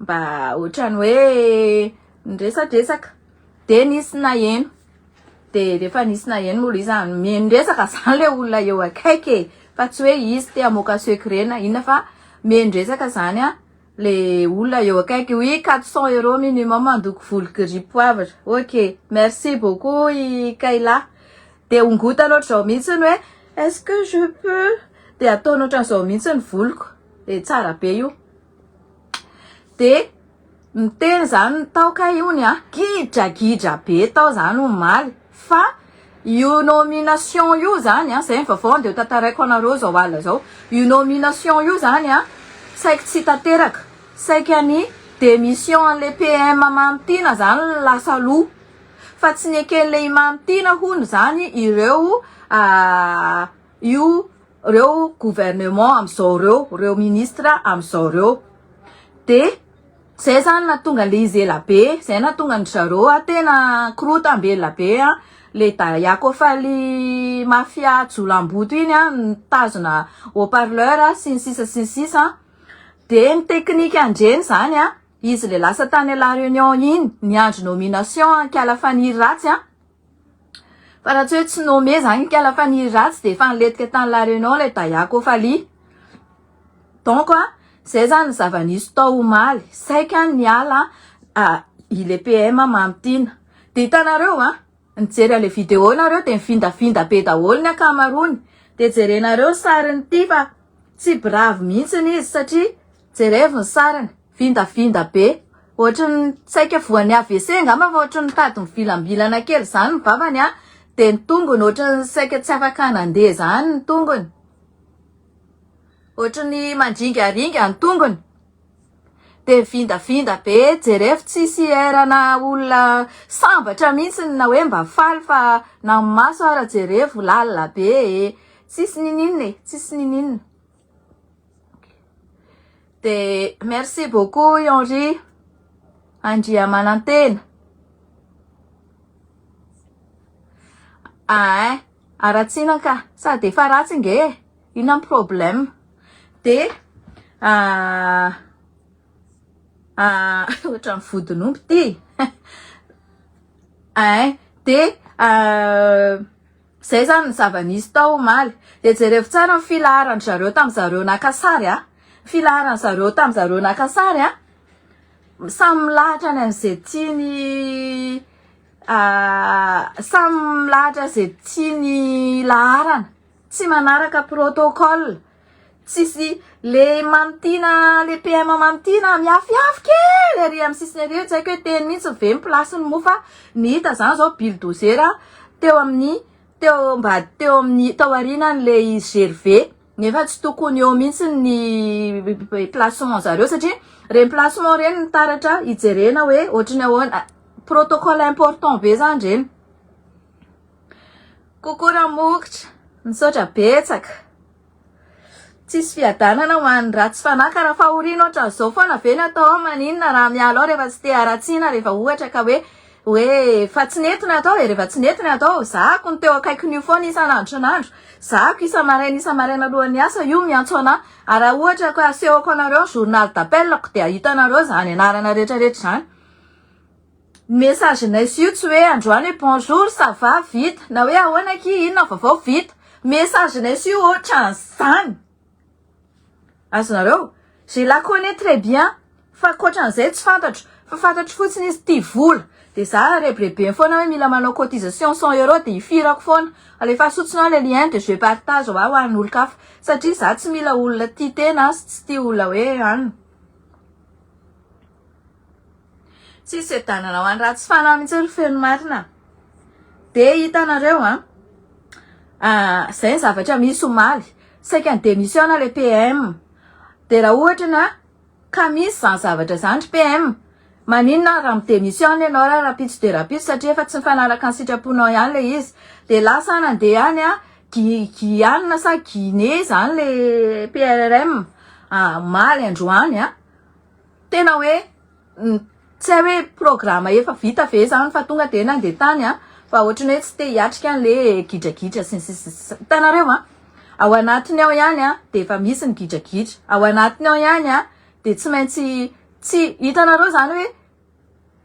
Mba ohatrany hoe niresadresaka de nisy naheno de rehefa nisy naheno moa izy zany mihaino resaka zany le olona eo akaiky e fa tsy hoe izy te hamoaka secret na inona fa mihaino resaka zany a le olona eo akaiky oui 400 euros minimum handoko volo gris poivre ok merci beaucoup i Kayla de ongotana ohatr'izao mihitsy ny hoe est-ce que je peux de ataony ohatran'izao mihitsy ny voloko e tsara be io de niteny zany ny tao ka io ny a gidragidra be tao zany omaly fa io nomination io zany a zay ny vaovao de ho tantaraiko anareo zao alina zao io nomination io zany a saiky tsy tanteraka saiky any demission an'le PM Mamy Tiana zany lasa aloha fa tsy neken'le i Mamy Tiana hono zany ireo Io reo gouvernement amizao reo, reo ministre amizao reo de zay zany nahatonga le izy ela be, zay nahatonga an-dry zareo a tena korotam-belona be a, le daiako faly mafia jolamboto iny a nitazona haut parleur sy ny sisa sy ny sisa a, de ny teknika ndreny zany a izy le lasa tany la reunion iny niandry nomination an-kiala faniry ratsy a, Fa raha tsy hoe tsy nommé zany kala fa ny ratsy dia efa niletika tany la Réunion ilay Dayako Fally. Donc a, zay zany ny zava-nisy tao omaly. Saika niala i le PM Mamy Tina. Dia hitanareo a, nijery an'ilay vidéo nareo dia mivindavinda be daholo ny ankamaroany. Dia jerenareo ny sariny ity fa tsy bravo mihitsy izy satria jerevo ny sariny. Vindavinda be. Ohatry ny saika voan'ny AVC angamba fa ohatry ny mitady mivilambilana kely izany ny vavany an! Dia ny tongony ohatry ny saika tsy afaka nandeha izany ny tongony. Ohatry ny mandringaringa ny tongony. Dia vindavinda be. Jerefo tsisy air na olona sambatra mihitsy na hoe mba faly fa na ny maso ara jerefo lalina be e. Tsisy niniana e. Tsisy niniana. Dia merci beaucoup i Henri Andriamanantena. Ain, haratsiana ka, sady efa ratsy nge e, inona ny problème? Dia ohatran'ny vodin'omby ity. Ain, dia. Zay zany ny zava nisy tao omaly. Dia jerevo tsara ny filaharan-dry zareo tamin'ny zareo naka sary a! Ny filaharan'ny zareo tamin'ny zareo naka sary a! Samy milahatra any amin'izay tiany samy milahatra izay tiany hilaharana. Tsy manaraka protocole. Tsisy le mamintina le PM mamintina miafiafy kely ery amin'ny sisiny ery tsy haiko hoe teny mihitsy ve ny place-ny moa fa ny hita zany zao bulldozer teo amin'ny teo mba teo amin'ny tao aorianan'le izy GRV nefa tsy tokony eo mihitsy ny placement zareo satria reny placement reny ny taratra hijerena hoe ohatry ny ahoana protocole important be zany reny. Coucou Ramokitra, misaotra betsaka. Tsisy fiadanana ho an'ny ratsy fanahy ka raha fahoriana ohatran'izao foana ve ny atao ao maninona raha miala ao rehefa tsy te haratsiana rehefa ohatra ka hoe hoe fa tsy nety ny atao e rehefa tsy nety ny atao zahako ny teo akaikin'io foana isan'andro isan'andro zahako isa-maraina isa-maraina alohan'ny asa io miantso anà ary raha ohatra ka asehoko anareo ny journal d'appel ko dia hitanareo izany anarana rehetrarehetra izany Ny message nay sy io tsy hoe androany hoe bonjour, ça va, vita, na hoe ahoana akia, inona vaovao, vita. Message nay sy io otran'izany. Azonareo? Je la connais très bien fa ankoatran'izay tsy fantatro. Fa fantatro fotsiny izy tia vola. Dia za rebirebeny foana hoe mila manao cotisation cent euros dia ifirako foana. Alefaso fotsiny ao ilay lien dia je partage ho ahy ho an'olon-kafa. Satria za tsy mila olona tia tena sy tsy tia olona hoe anona. Tsy sedanana ho an'ny ratsy fanahy mihitsy ry feno marina. Dia hitanareo an, izay ny zavatra misy omaly, saika ni-demission ilay PM. Dia raha ohatra ny ka misy izany zavatra izany ry PM, maninona ary raha mi-demission ianao ary rahampitso dia rahampitso satria efa tsy mifanaraka ny sitraponao ihany ilay izy. Dia lasa any handeha any an, Guy Guyane sa Guinée izany ilay PRRM, omaly androany an. Tena hoe tsy hay hoe programa efa vita ve zany fa tonga dia nandeha tany an! fa ohatran'ny hoe tsy te hiatrika an'ilay gidragidra sy ny sisa sy ny sisa. Hitanareo an! ao anatiny ao ihany an dia efa misy ny gidragidra, ao anatiny ao ihany an dia tsy maintsy tsy, hitanareo zany hoe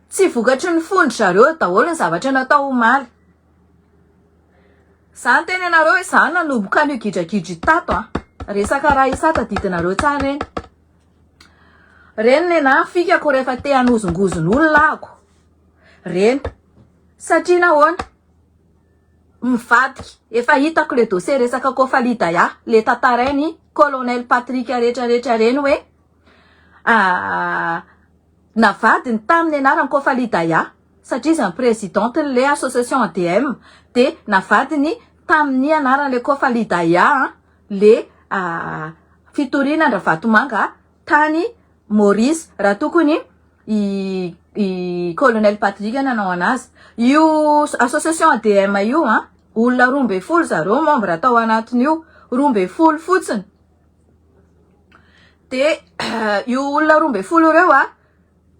tsy vokatry ny fon-dry zareo daholo ny zavatra natao omaly. Za niteny anareo hoe za nanomboka an'io gidragidra io tato an! resaka raha i sa tadidinareo tsara eny. Reny le na fikako rehefa te hanozongozona olona ako reny satria nahoana mivadika efa hitako le dossier resaka Kofali Daya le tantarainy colonel Patrick rehetra rehetra reny hoe navadiny tamin'ny anaran'i Kofali Daya satria izy ny présidente le association ADM de navadiny tamin'ny anaran'le Kofali Daya le fitoriana an-dRavatomanga tany Maurice raha tokony i i colonel Patrick nanao anazy. Io association ADM io an, olona roa ambin'ny folo zareo membre tao anatin'io, roa ambin'ny folo fotsiny, de io olona roa ambin'ny folo ireo an,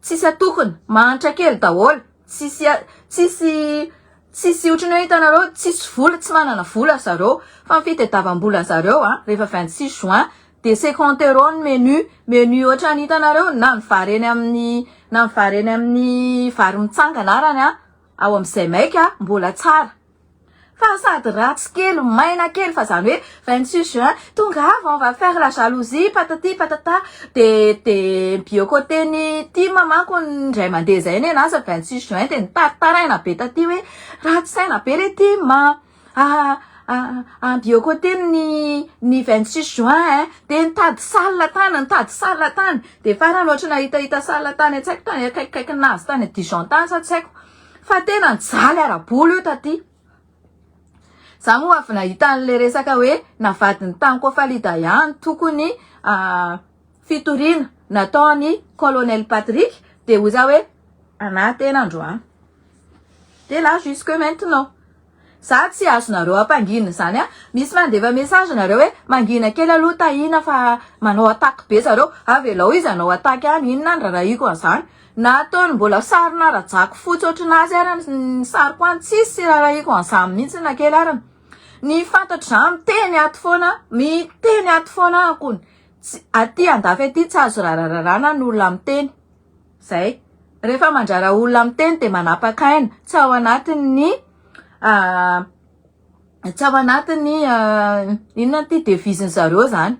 Tsisy atokona, mahantra kely daholo, tsisy tsisy tsisy otrany hoe hitanareo tsisy vola tsy manana vola zareo fa ny fitadiavam-bola zareo a rehefa vingt six juin de ce compte euro ny menu menu otrany hitanareo na ny vary eny amin'ny na ny vary eny amin'ny vary mitsangana arany a ao amin'izay maika mbola tsara Fa sady ratsy kely, maina kely, fa zany hoe vingt six juin tonga avy on va faire la jalousie patati patata de de mi-biocoter ny tim manko indray mandeha izay ny anah sa vingt six juin de nitaritaraina be taty hoe ratsy saina be le tim a a mi-biocoter ny ny vingt six juin eh de nitady salle tany nitady salle tany de farany ohatry ny nahitahita salle tany an-tsaiko tany akaikikaikin'azy tany dijon tany sa tsy haiko Fa tena nijaly ara-bola io taty. Za moa avy nahita an'ilay resaka hoe navadin'i Tanko Falida ihany toko ny fitoriana nataon'i Colonel Patrick dia hoy za hoe anah tena androany. Dia là jusque maintenant. Za tsy azonareo ampangina zany a! Misy mandefa message nareo hoe mangina kely aloha Tahiana fa manao attaque be zareo! Avelao izy hanao attaque any! Inona ny rarahiko an'izany? Na ataony mbola sarina rajako fotsy ohatranazy ary ny sariko any tsisy rarahiko an'izany mihitsy na kely ary! Ny fantatro za miteny ato foana miteny ato foana aho kony! Aty andafy aty tsy azo rarararana ny olona miteny! Zay. Rehefa mandrara olona miteny dia manapaka aina. Tsy ao anatin'ny tsy ao anatin'ny inona ity devise-ny zareo zany.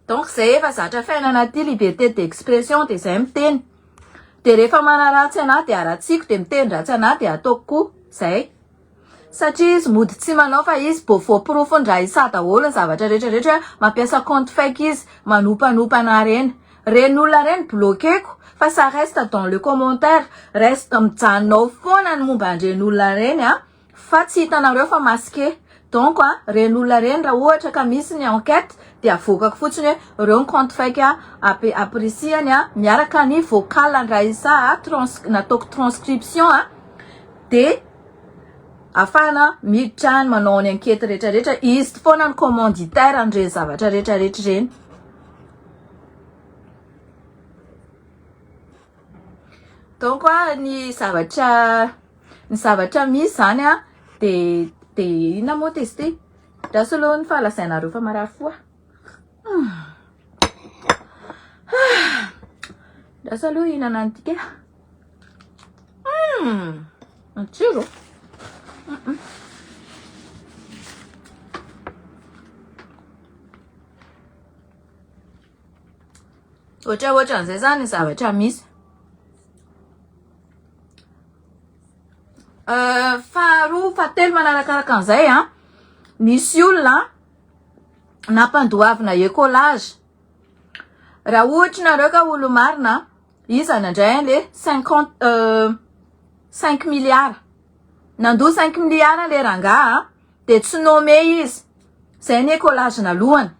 Donc zay efa zatra fiainana aty liberté d'expression dia zay miteny. Dia rehefa manaratsy anah dia haratsiko dia miteny ratsy anah dia ataoko koa. Zay. Satria izy mody tsy manao fa izy bo voaporofo ndra i sa daholo ny zavatra rehetra rehetra hoe mampiasa compte fake izy manompanonpa anah reny reny olona reny bloqueko fa ça reste dans le commentaire reste mijanona ao foana ny momba an'ireny olona reny a fa tsy hitanareo fa masqué donc a reny olona reny raha ohatra ka misy ny enquête de avoakako fotsiny hoe reo ny compte fake ape aprisihany a miaraka ny vocal ndra i sa a trans nataoko transcription a de Afahana miditra ny manao ny ankety rehetra rehetra. Izy foana ny commanditaire an'ireny zavatra rehetra rehetra ireny. Donc ny zavatra ny zavatra misy zany a de de inona moa testé? Ndraso aloha ny fahalazainareo fa marary fo a. Ndraso aloha hihinana an'ity kay. Hum, matsiro. Mm-mm. Ohatry ohatry an'izay zany zavatra misy. Euh, faharoa fahatelo manarakaraka an'izay a ah. nisy olona nampandoavina ecolage raha ohatra nareo ka olomarina Iza no nandray an le cinquante euh cinq milliards? Nandoa cinq milliards an le rangah an, de tsy nommé izy, zay ny écolage nalohany.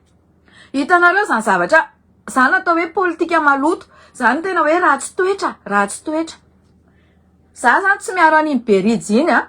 Hitanareo zany zavatra, zany atao hoe politika maloto, zany tena hoe ratsy toetra, ratsy toetra. Za zany tsy miaro an'iny Berids iny an.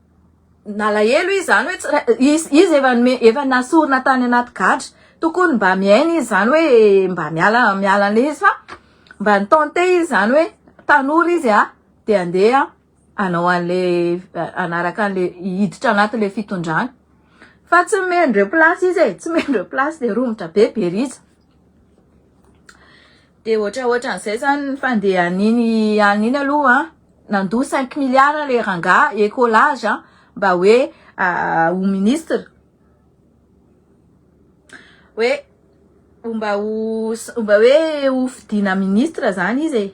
nalahelo izy zany hoe izy izy efa nome efa nasorina tany anaty gadra tokony mba miaina izy zany hoe mba miala miala an'le izy fa mba nitente izy zany hoe tanora izy a de andeha anao an'le anaraka an'le hiditra anatin'le fitondrana fa tsy mendreo place izy e tsy mendreo place de romotra be be rija Dia ohatra ohatran'izay zany ny fandehan'iny alina iny aloha nandoa cinq milliards ilay rangahy ecolage mba hoe ho ministra hoe mba ho mba hoe ho fidiana ministra zany izy e,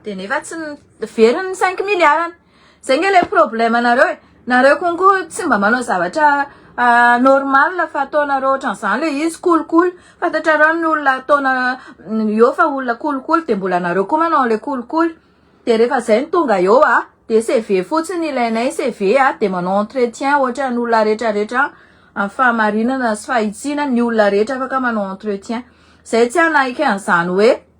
dia nefa tsy ny, very ny cinq milliards-ny. Zay nge le problème anareo e, nareo konko tsy mba manao zavatra normal fa ataonareo otran'izany le izy kolikoly, fantatrareo ny olona ataona eo fa olona kolikoly de mbola nareo koa manao anle kolikoly, de refa zay no tonga eo a de CV fotsiny ilainay CV a de manao entretien otran'ny olona retraretra any amin'ny fahamarinana sy fahitsiana ny olona rehetra afaka manao entretien, zay tsy hanaiky an'izany hoe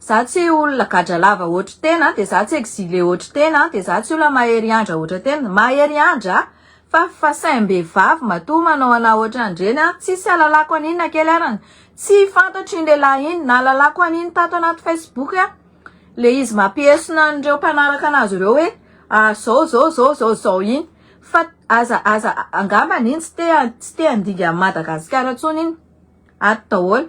Za tsy olona gadra lava hotry tena an, de za tsy exile hotry tena an, de za tsy olona mahery andra hotry tena, mahery andra a, fa fa saimbehivavy matoa manao anah hotry andreny an, tsisy alalako an'iny na kely arany, tsy fantatro iny lehilahy iny, nahalalako an'iny tato anaty facebook an, le izy mampihesona an'ireo mpanaraka anazy ireo hoe zao zao zao zao zao iny, fa aza aza angambany iny tsy te tsy te handinga an'i Madagasikara intsony iny, ato daholo.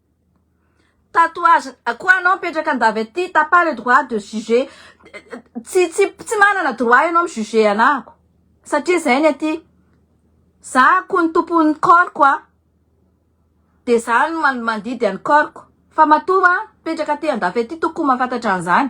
Tatouage quoi anao mipetraka andavy aty t'as pas le droit de juger tsy tsy tsy manana droit ianao mi juger anako satria zay ny aty za ko ny tompon'ny corps-ko a de za no mandidy an'i corps-ko fa matoa mipetraka aty andafy aty tokony ho mahafantatra an'izany.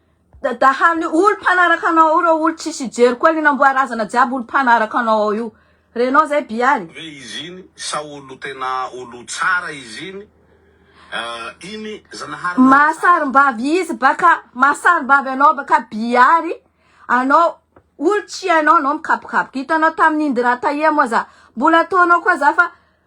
Dadahan'ny olo mpanaraka anao ao reo olo tsisy hijery koa lina amboa razana jiaby olo mpanaraka anao ao io renao zay bialy. Ve izy iny sa olo tena olo tsara izy iny eh, iny zanahary nareo tsara. Mahasarimbavy izy baka mahasarimbavy anao baka biary anao olo tsy hainao anao mikapokapoka hitanao tamin'ny indira tahia moa za mbola ataonao koa za fa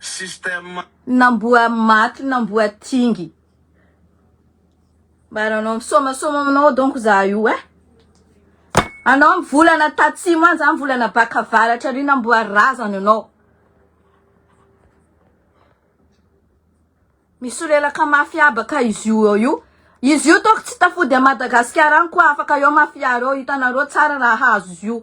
système. Nambohamaty nambohatingy. Mba nanao misomasoma aminao donc za io eh. Anao mivolana tatsimo any za mivolana baka avaratra ary namboary razana ianao. Misolelaka mafy habaka izy io eo io. Izy io toa tsy tafody à Madagasikara any koa afaka eo mafia reo hitanareo tsara raha hahazo izy io.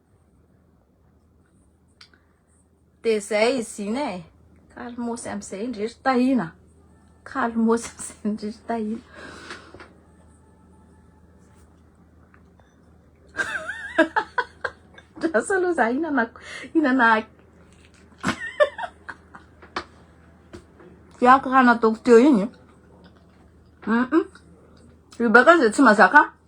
Dia izay izy iny e. Kalmosy amin'izay indry ry Tahiana. Kalmosy amin'izay indry ry Tahiana. Lasa aloha za hinana hinana Tiako raha nataoko teo iny. Mm -mm. Rebecca izay tsy mazaka.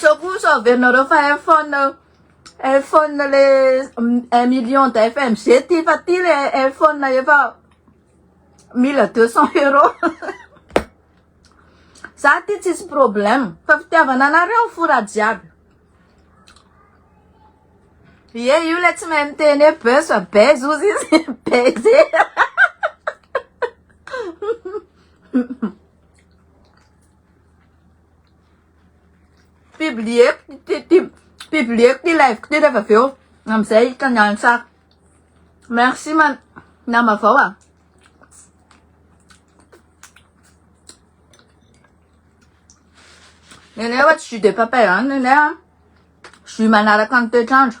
Sao koa sao averinareo fa iPhone iPhone le un million de FMG ty fa ty le iPhone efa mila deux cent euros za ty tsisy problème fa fitiavana anareo fora jiaby ye io le tsy mahay miteny hoe buzz fa buzz ozy izy buzz Publieko ny titimo. Publieko ny live-ko ty rehefa avy eo. Am'zay hitan'ny an'ny tsara. Merci ma nama vao ah. Nenay ohatry jus de papaye any nenay an. Jus manaraka ny toetr'andro.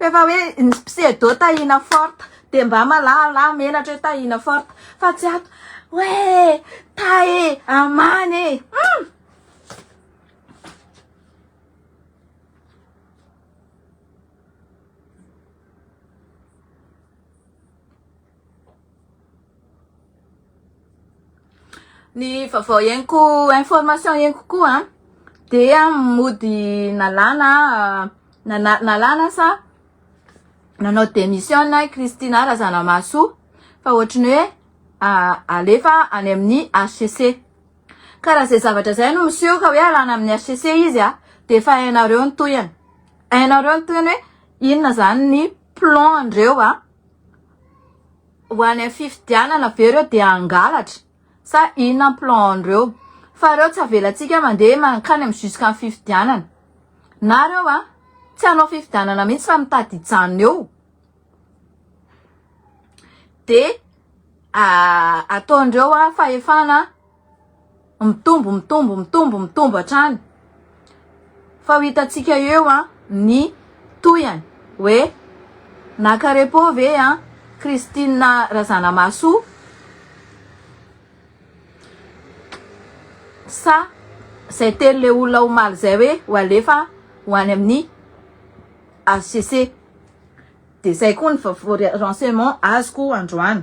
Rehefa hoe ny pseudo Tahiana Fort dia mba malahalà menatra hoe Tahiana Fort fa tsy ato hoe Tay e, Aman e. Hum! Ny vaovao henoko information henoko koa dia mody nalana nana nalana sa nanao démission i Christina Razanamahasoa fa ohatry ny hoe alefa any amin'ny HCC. Ka raha izay zavatra izay no miseho ka hoe alana amin'ny HCC izy dia efa hainareo ny tohiny. Hainareo ny tohiny hoe inona izany ny plan-ndreo. Ho any amin'ny fifidianana ve ireo dia hangalatra sa inona ny plan-ndreo? Fa ireo tsy avelantsika mandeha mankany amin'ny jusqu'à ny fifidianana. Na ireo tsy hanao fifidianana mihitsy fa mitady hijanona eo dia ataon'ireo fahefana. Mitombo, mitombo, mitombo, mitombo hatrany. Fa ho hitantsika eo ny tohiny hoe naka repos ve i Christine Razanamahasoa sa izay teny ilay olona omaly izay hoe ho alefa ho any amin'ny HCC. Dia izay koa ny renseignements azoko androany.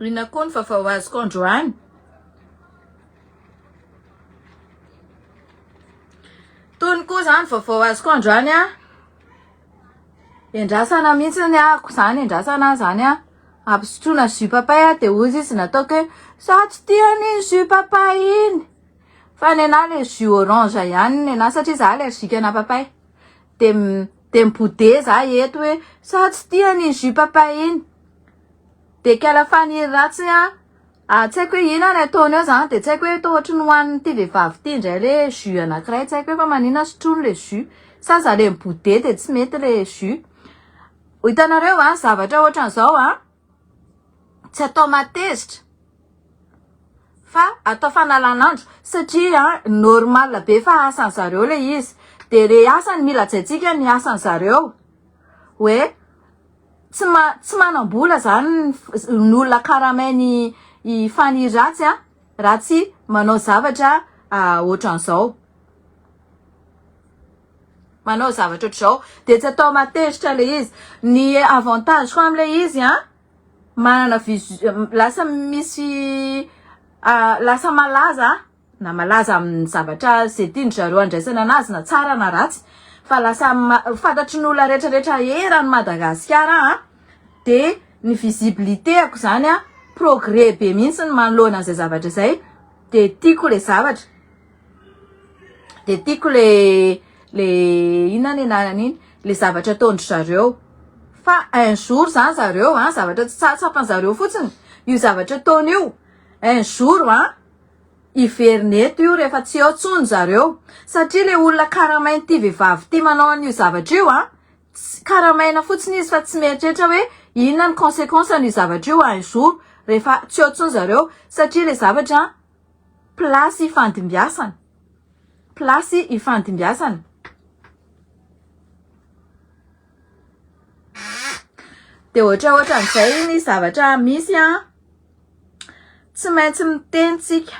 Inona koa ny vavao azoko androany? Tony koa zany vavao azoko androany a. Endrasana mihitsy ny ako zany endrasana zany a. Ampisotroana jus papay a de ozy izy nataoko hoe za tsy tia an'iny jus papay iny fa nenah le jus orange ihany nenah satria za allergique ana papay de Dia mibode za eto hoe sao tsy tiany iny jus papa iny. Dia kala faniry ratsy an! ary tsy haiko hoe ina ny ataony eo zany dia tsy haiko hoe toa ohatry ny hohanin'ity vehivavy ity indray le jus anankiray tsy haiko hoe fa manina sotroiny le jus sa za le mibode dia tsy mety le jus. Hitanareo va ny zavatra ohatran'izao an! Tsy atao mahatezitra fa atao fanalan'andro satria normal be fa asan'ny zareo ilay izy dia re asa no mila hajaintsika ny asan'ny zareo hoe tsy ma- tsy manam-bola izany ny olona karamain'i i Fani Ratsy an raha tsy manao zavatra ohatran'izao. manao zavatra ohatr'izao dia tsy atao matezitra ilay izy. Ny avantage koa amin'ilay izy an, manana vision, lasa misy lasa malaza na malaza amin'ny zavatra izay tian-dry zareo handraisana an'azy na tsara na ratsy fa lasa fantatry ny olona rehetrarehetra eran'i Madagasikara an, dia ny visibilité-ko izany an, progrès be mihitsy ny manoloana an'izay zavatra izay dia tiako ilay zavatra. de tiako le le inona ny anarany iny le zavatra ataondry zareo fa un jour zany zareo an zavatra tsy tsapany zareo fotsiny io zavatra ataony io un jour an hiverina eto io rehefa tsy eo tsony zareo satria le olona karamainy ty vehivavy ty manao an'io zavatra io an tsy karamaina fotsiny izy fa tsy mieritreritra hoe inona ny consequence an'io zavatra io un jour rehefa tsy eo tsony zareo satria le zavatra Place ifandimbiasana, place ifandimbiasana, dia ohatra ohatran'izay ny zavatra misy an, tsy maintsy miteny tsika,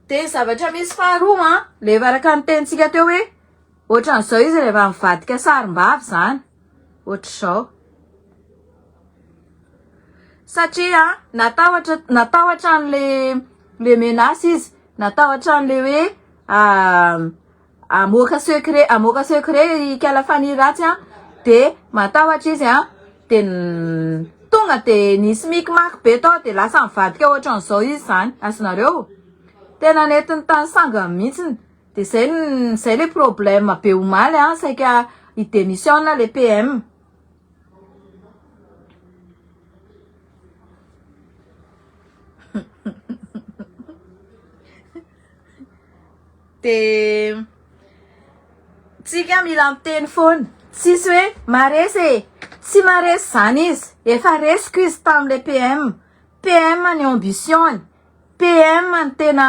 dia zavatra misy faharoa an, rehefa araka ny tenintsika teo hoe ohatran'izao izy rehefa mivadika sarimbavy izany. ohatr'izao. Satria natahotra natahotra an'ilay menace izy, natahotra an'ilay hoe hamoaka secret hamoaka secret ikala Fanihy ratsy an, de matahotra izy an, de tonga de nisy micmac be tao de lasa nivadika ohatran'izao izy zany, azonareo? Tena nentin'ny tany sangany mihitsy De zay zay le problème be omaly an, saika hi demissionne le PM. De tsika mila miteny foana, tsisy hoe maresy e, tsy maresy zany izy, efa resiko izy tamle PM, PM ny ambition-ny, PM ny tena.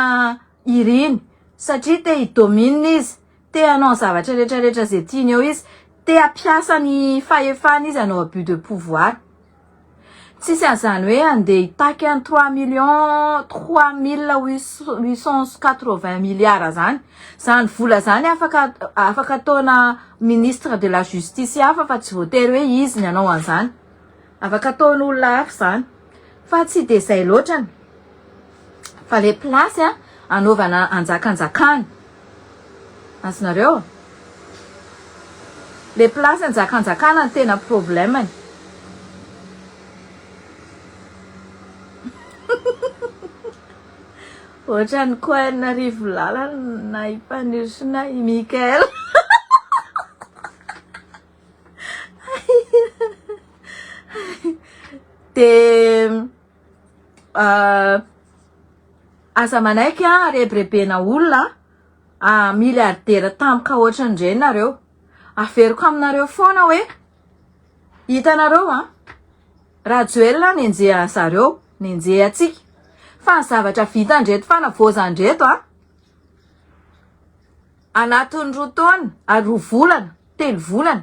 iriny satria te hi domine izy, te hanao zavatra rehetra rehetra izay tiany eo izy, te hampiasa ny fahefany izy hanao abus de pouvoir. Tsisy an'izany hoe handeha hitaky an'i trois millions trois mille huit cents quatre vingt milliards izany. Izany vola izany afaka afaka ataona ministre de la justice hafa fa tsy voatery hoe izy ny hanao an'izany. Afaka ataon olona hafa izany fa tsy dia izay loatra ny fa ilay place anaovana anjakanjakana azonareo ilay place anjakanjakana no tena problème ny ohatran'ny coin Rivolalana i Mpaniry sy i Mickael. Dia aza manaiky an rebirebena olona an, milliardaire tampoka ohatran'ireny nareo, averiko aminareo foana hoe hitanareo an, Rajoelina nenjehan'ny zareo, nenjehantsika fa ny zavatra vitan'ireto fanavaozana ireto an, Anatin'ny roa taona ary roa volana, telo volana,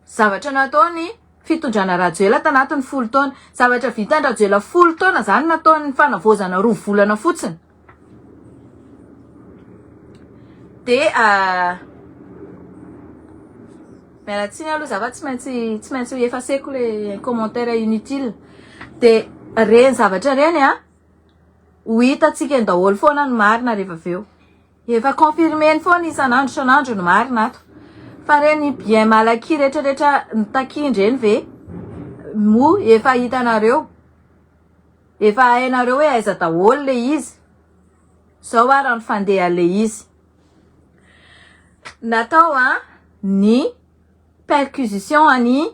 zavatra nataon'ny fitondrana Rajoela tanatin'ny folo taona, zavatra vitan-dRajoela folo taona izany nataon'ny fanavaozana roa volana fotsiny. Dia miala tsiny aloha za fa tsy maintsy tsy maintsy ho efaseko le commentaire inutile. Dia reny zavatra reny a, Ho hitantsika eny daholo foana ny marina rehefa avy eo. Efa confirmer-ny foana isan'andro isan'andro ny marina ato. Fa ireny bien malaky rehetrarehetra nitakiany ireny ve moa efa hitanareo? Efa hainareo hoe aiza daholo ilay izy? Izao ary ny fandehan'ilay izy. Natao ny perquisition an'i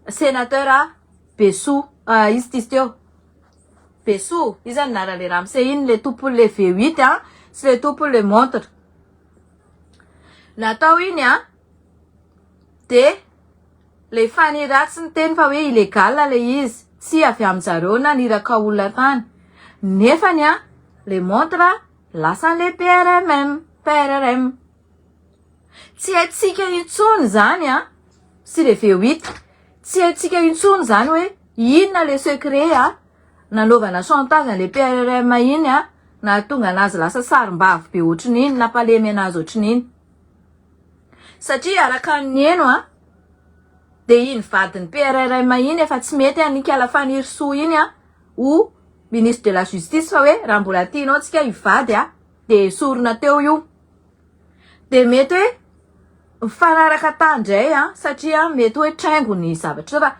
Sénateur Besoa, ah izy ity izy ity ô! Besoa, iza no narany le ramose iny le tompony le V huit an, sy le tompony le montre natao iny an, de le fany ratsy niteny fa hoe illégal le izy, tsy avy amin zareo na niraka olona tany, nefany an le montre lasa anle PRMM, PRRM. Tsy haintsika intsony izany an! S'il est vieux oui. Tsy haintsika intsony izany hoe inona ilay secret an! Nanaovana chantage an'ilay PRRM iny an! Nahatonga an'azy lasa sarimbavy be ohatrin'iny, nampalemy an'azy ohatrin'iny. Satria araka ny niheno an! Dia iny vadin'ny PRRM iny efa tsy mety an! Nikala Fanirisoa iny an! Ho Ministre de la Justice fa hoe raha mbola tianao antsika hivady an! Dia esorina teo io. dia mety hoe mifanaraka tany indray an satria mety hoe traingo ny zavatra fa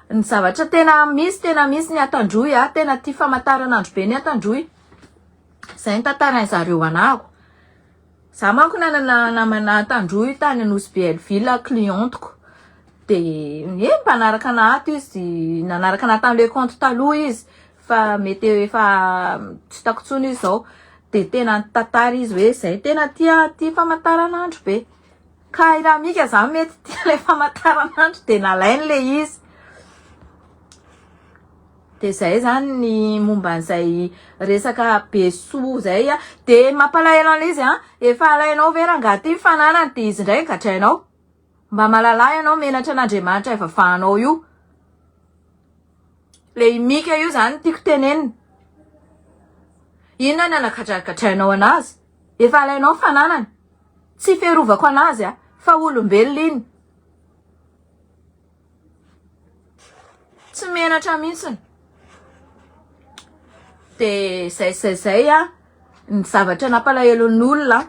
ny zavatra tena misy tena misy ny atandroy an tena tia famantaranandro be ny atandroy izay ny tantaran'ny zareo anako za manko nanana namana atandroy tany anosy be elvila clientiko dia ny hoe mpanaraka nahato izy nanaraka naha tany le compte taloha izy fa mety efa tsy hitako intsony izy zao de tena nitantara izy hoe zay tena tia tia famataranandro be ka i ramika zany mety tia le famataranandro de nalainy le izy de zay zany ny momba an'izay resaka be soa zay a de mampalahelo an'le izy a efa alainao ve rangaha ty ny fananany de izy ndray gadrainao Mba malala ianao menatra an'Andriamanitra ivavahanao io. Le i Mika io zany tiako tenenina. Inona ny anagadragadrainao anazy? Efa alainao ny fananany. Tsy fiarovako anazy a, fa olombelona iny. Tsy menatra mihitsiny. Dia zay zay zay ny zavatra nampalahelo ny olona.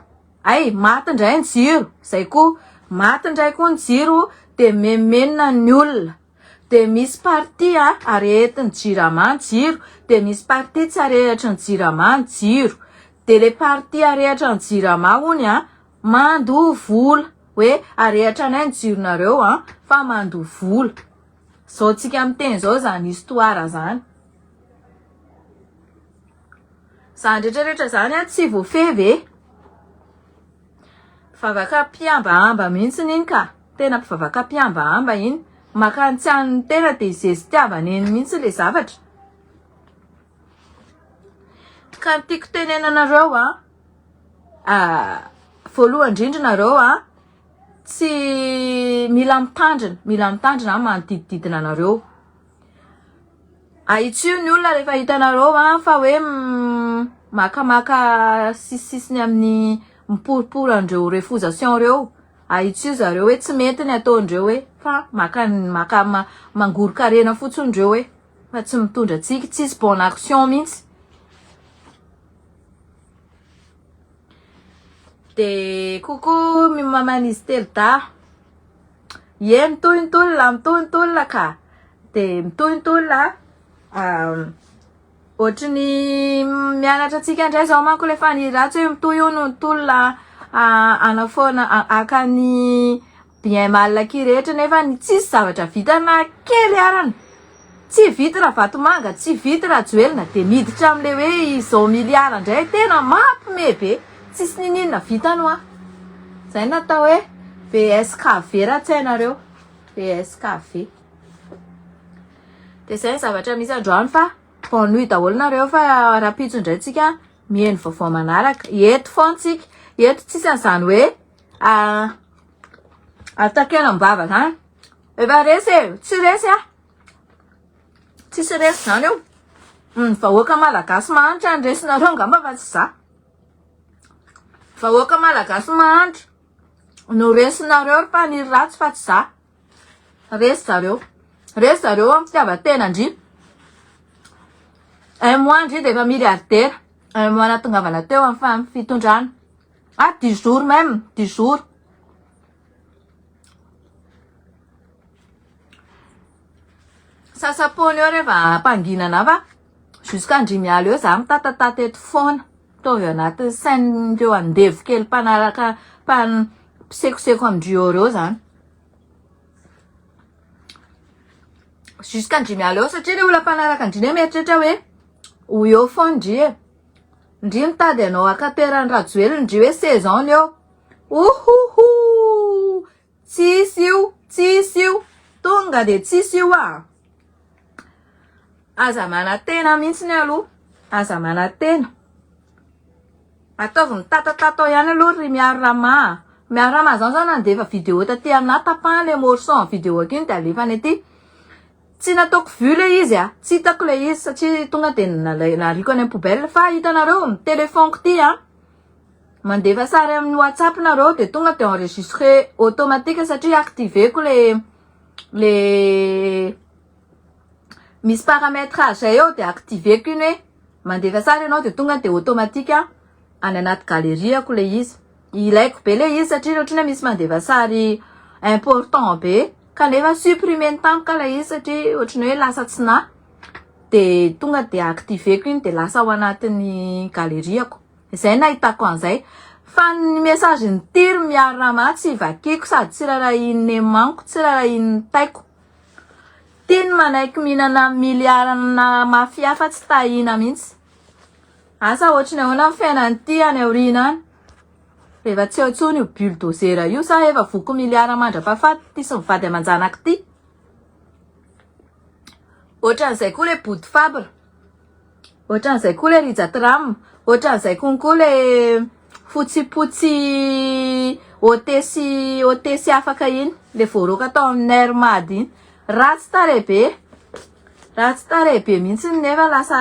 Ay, maty indray ny jiro. Zay koa, maty indray koa ny jiro dia mimenomenona ny olona. Dia misy partie arehetin'ny jirama ny jiro, dia misy partie tsy arehetry ny jirama ny jiro. Dia ilay partie arehetry ny jirama hono Mandoa vola hoe arehatra anay ny jironareo an, fa mandoa vola. Zao tsika miteny zao zany histoire zany. Zany rehetra rehetra zany an tsy voafehy ve? Vavaka mpihambahamba mihitsiny iny ka. Tena mpivavaka mpihambahamba iny. Maka ny tsy an'ny tena dia zestiavana eny mihitsy le zavatra. Ka ny tiako tenenanareo an, Voalohany indrindra nareo a, tsy mila mitandrina, mila mitandrina ny manodidididina anareo. Ahitsio ny olona rehefa hitanareo fa hoe makamaka sisisisiny amin'ny miporipory an'ireo refousations ireo, ahitsio zareo hoe tsy mety ny ataondreo hoe fa maka- maka- mangoron-karena fotsiny ireo hoe fa tsy mitondra tsiky, tsisy bonne action mihitsy. Dia coucou mi maman'izy telo dahy. Ie mitohy ny tolona, mitohy ny tolona ka. Dia mitohy ny tolona an. Ohatry ny mianatra antsika indray izao manko ilay faniriantsika hoe mitohy hono ny tolona hanafoana haka ny Bien mal aky rehetra nefa ny tsisy zavatra vita na kely arany. Tsy vity ravatomanga, tsy vity rajoelina de miditra am le hoe izao milliard ndray tena mapme be. Tsisy nininona vita no ah. Zay no atao hoe VSKV ra tsy hainareo. VSKV. De zay ny zavatra misy androany fa bonne nuit daholo nareo fa rahampitso ndray tsika miheno vaovao manaraka. Eto foana tsika. Eto tsisy anzany hoe ah, takeram bava zany efa resy e tsy resy a tsisy resy zany eo ny mm, vahoaka malagasy mahantra ny resinareo angamba fa tsy za vahoaka malagasy mahantra no resinareo ry mpaniry ratsy fa tsy za resy zareo resy zareo amin'ny fitiavan-tena ndry un mois ndry de efa miliardaire un mois natongavana teo amin'ny fitondrana Ah dix jours même, dix jours. Sasampony eo rehefa hampanginana fa jusqu'andrimialy eo za mitatatata eto foana. Ataovy ao anatin'ny sain'ireo andevo kely mpanaraka mpan mpisekoseko amin-dry eo ireo zany. Jusqu'andrimialy eo satria le olona mpanaraka an-dry anie mieritreritra hoe ho eo foana ndry e. Ndry mitady anao akaperan'i Rajoelina ndry hoe sezan ny eo ohohoo tsisy io tsisy io tonga de tsisy io a aza manatena mihitsy ny aloha aza manatena ataovy mitatatata ao ihany aloha ry miaro rama miaro rama zany zany andefa video taty aminah tapahany le morceau en video akiny de alefa any aty Tsy nataoko vue le izy a, tsy hitako le izy satria tonga de nariako any am poubelle fa hitanareo ny telephone ko ty a, mandefa sary amin'ny whatsapp nareo de tonga de enregistre automatique satria active ko le le misy parametrage zay eo de active ko iny hoe mandefa sary enao de tonga de automatique any anaty galerie ko le izy, ilaiko be le izy satria otrany hoe misy mandefa sary important be. Kanefa supprimer-ny tampoka ilay izy satria ohatran'ny hoe lasa tsy na. Dia tonga dia activer-ko iny dia lasa ao anatin'ny galerie-ko. Izay no nahitako an'izay. Fa ny message-n'i Tiry Mihary Rama tsy vakiako sady tsy rarahian'ny aimant-ko, tsy rarahian'ny taiko. Tiany manaiky mihinana miliaranà mafia fa tsy tahiana mihitsy. Asa ohatran'ny ahoana ny fiainana ity any aoriana any? Efa tsy eo intsony io bulldozer io sa efa voky miliara mandra-pahafaty ity sy ny vady aman-janaka ity. Ohatran'izay koa ilay Body Fabre. Ohatran'izay koa ilay Rija Tram. Ohatran'izay konko ilay fotsipotsy hotesy hotesy afaka iny. Ilay voaroaka tao amin'ny Air Mad iny. Ratsy tarehibe. Ratsy tarehibe mihitsy nefa lasa